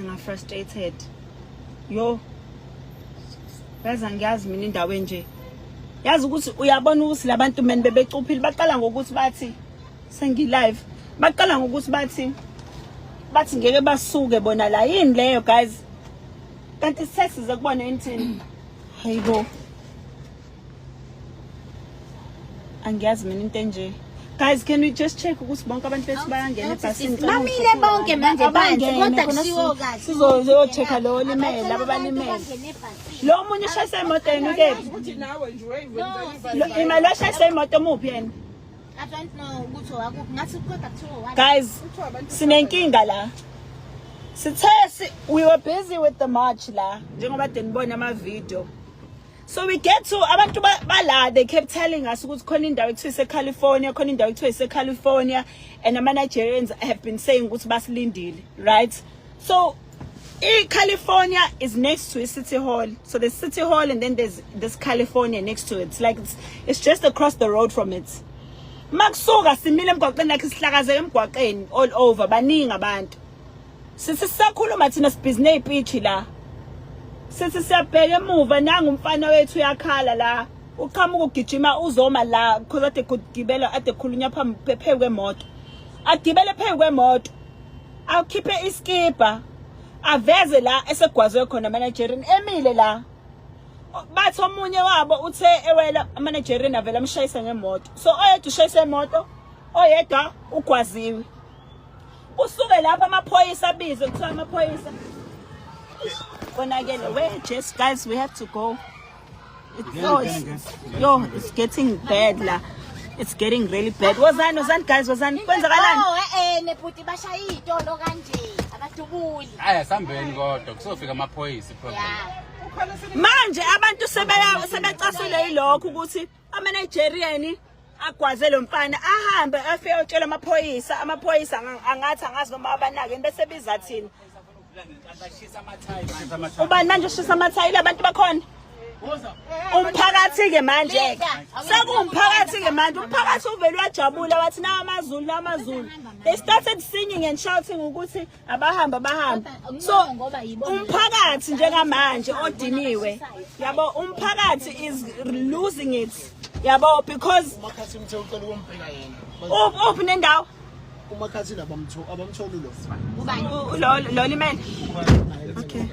nga frustrated yo yazi angiyazi mina indawo enje yazi ukuthi uyabona ukuthi labantu men bebecuphile baqala ngokuthi bathi sengi live baqala ngokuthi bathi bathi ngeke basuke bona la yini leyo guys kanti sesize kubona inthini hayibo angiyazi mina into enje guys can we just check ukuthi bonke abantu bethu bayangena ebhasini bamile bonke manje phansi kodwa kusiwo kahle sizoyochecka lo olimele laba balimele lo omunye ushayisa imoto yena ukephi imali washayisa imoto omuphi yena guys sinenkinga la sithe we were busy with the march la njengoba denibona ama-video So we get to abantu bala they kept telling us ukuthi khona indawo ekuthiwa iseCalifornia khona indawo ekuthiwa iseCalifornia and ama Nigerians have been saying ukuthi basilindile right so i California is next to City Hall so the City Hall and then there's this California next to it it's like it's, it's just across the road from it makusuka simile emgwaqeni lakhe sihlakazeke emgwaqeni all over baningi abantu Sisi sisakhuluma thina sibhizinee ipitshi la. Sisi siyabheka emuva nangu umfana wethu uyakhala la. Uqhamuka ugijima uzoma la because ade kugibela ade khulunya phambi phezu kwemoto. Agibele phezu kwemoto. Awukhiphe iskipa. Aveze la esegwazwe khona managerin emile la. Bathi omunye wabo uthe ewela managerin avela amshayisa ngemoto. So oyedwa ushayisa imoto oyedwa ugwaziwe. Kusuke lapha amaphoyisa abizwe kuthiwa amaphoyisa. Konakele we just guys we have to go. It's, yo, it's, yo, it's getting bad la. It's getting really bad. Wozani wozani guys wozani kwenzakalani? Oh eh eh nebhuti bashaya itolo kanje abadubuli. Aya sambeni kodwa kusofika amaphoyisa problem. Yeah. Manje abantu sebecasule yilokho ukuthi Ama-Nigerian agwaze lo mfana ahambe afike otshela amaphoyisa amaphoyisa angathi angazi noma abanakeni bese biza thina ubani manje ushisa amathayile abantu bakhona umphakathi-ke manje-ke sekuwumphakathi-ke manje umphakathi uvele wajabula wathi nawo amazulu nawo amazulu they started singing and shouting ukuthi abahamba bahamba so umphakathi njengamanje odiniwe yabo umphakathi is losing it yabo because umakhathi umthe ucela ukumbheka yena uphi nendawo umakhathi labamtho abamtholi lo lo lo limele okay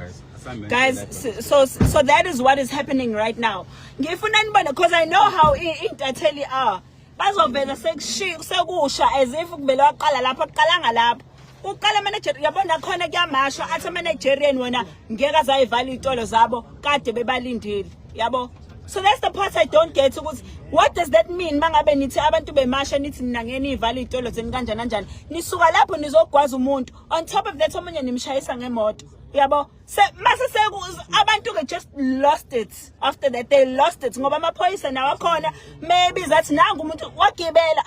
guys so so that is what is happening right now ngifuna nibone because i know how intatheli are bazovele sekusha as if kumele waqala lapho kuqalanga lapho uqala manager yabona khona kuyamashwa athi managerian wona ngeke azayivala izitolo zabo kade bebalindile yabo so that's the part i don't get ukuthi what does that mean mangabe nithi abantu bemasha nithi nina ngeke niyivala izitolo zeni kanjani kanjani nisuka lapho nizogwaza umuntu on top of that omunye nimshayisa ngemoto yabo Se mase seku abantu ke just lost it after that they lost it ngoba amaphoyisa nawo akhona maybe that nangu umuntu wagibela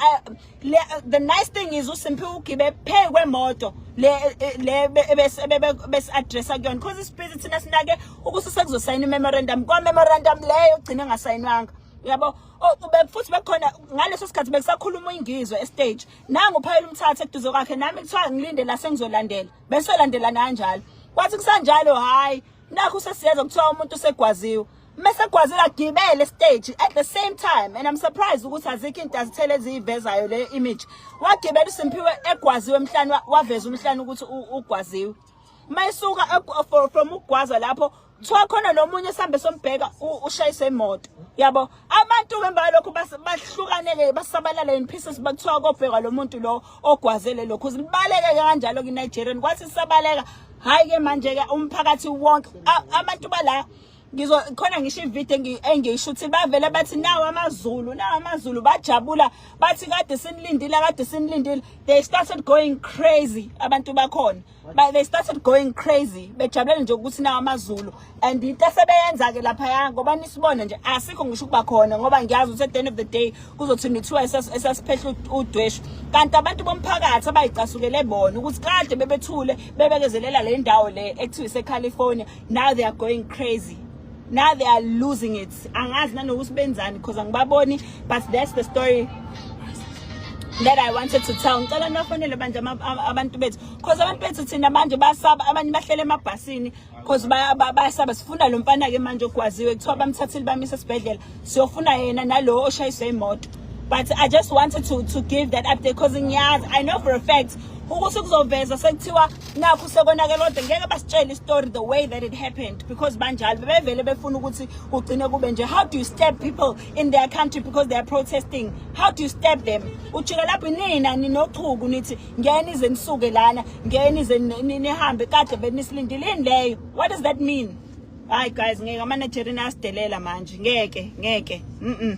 the nice thing is uSimphi ugibe phe kwemoto le le bese bese address akuyona because isiphithi thina sinake ukuthi sekuzosayina memorandum kwa memorandum leyo ugcine ngasayinwanga yabo futhi bekhona ngaleso sikhathi bekusakhuluma ingizwe estage nangu phayela umthatha eduze kwakhe nami kuthiwa ngilinde la sengizolandela besolandelana kanjalo kwathi kusanjalo hayi nakho sesiyeza kuthiwa umuntu usegwaziwe mese gwazela gibele stage at the same time and i'm surprised ukuthi azikho into azithele eziyivezayo le image wagibela uSimphiwe egwaziwe emhlanje waveza umhlanje ukuthi ugwaziwe mayisuka from ugwaza lapho kuthiwa khona nomunye esihambe sombheka ushayise imoto yabo abantu ke emva lokho bahlukaneke basabalala in pieces bakuthiwa kobhekwa lo muntu lo ogwazele lokho uzibaleke kanjalo kinigerian kwathi sisabaleka hhayi ke manje-ke umphakathi wonke abantu bala ngizo khona ngisho ivideo engiyishuthi bavele bathi nawo amazulu nawo amazulu bajabula bathi kade sinilindile kade sinilindile they started going crazy abantu bakhona But they started going crazy bejabulele nje ukuthi nawo amazulu and into esebeyenza ke lapha ya ngoba nisibona nje asikho ngisho ukuba khona ngoba ngiyazi ukuthi at the end of the day kuzothi nithiwa esasiphehla udweshu kanti abantu bomphakathi abayicasukele bona ukuthi kade bebethule bebekezelela le ndawo le ekuthiwa iseCalifornia now they are going crazy now they are losing it angazi nanokuthi benzani because angibaboni but that's the story that I wanted to tell ngicela nibafonele manje abantu bethu because abantu bethu thina manje basaba abanye bahlele emabhasini because bayasaba sifuna lo mfana ke manje ogwaziwe kuthiwa bamthathile bamisa esibhedlela siyofuna yena nalowo oshayiswe imoto but I just wanted to to give that update because ngiyazi I know for a fact ukuthi kuzoveza sekuthiwa nakho sekonakele kodwa ngeke basitshele istory the way that it happened because banjalo bebevele befuna ukuthi kugcine kube nje how do you stab people in their country because they are protesting how do you stab them ujika lapho inina ninochuku nithi ngene ize nisuke lana ngene ize nihambe kade benisilindile ini leyo what does that mean hayi guys ngeke ama-nigerian asidelela manje ngeke ngeke mm, -mm.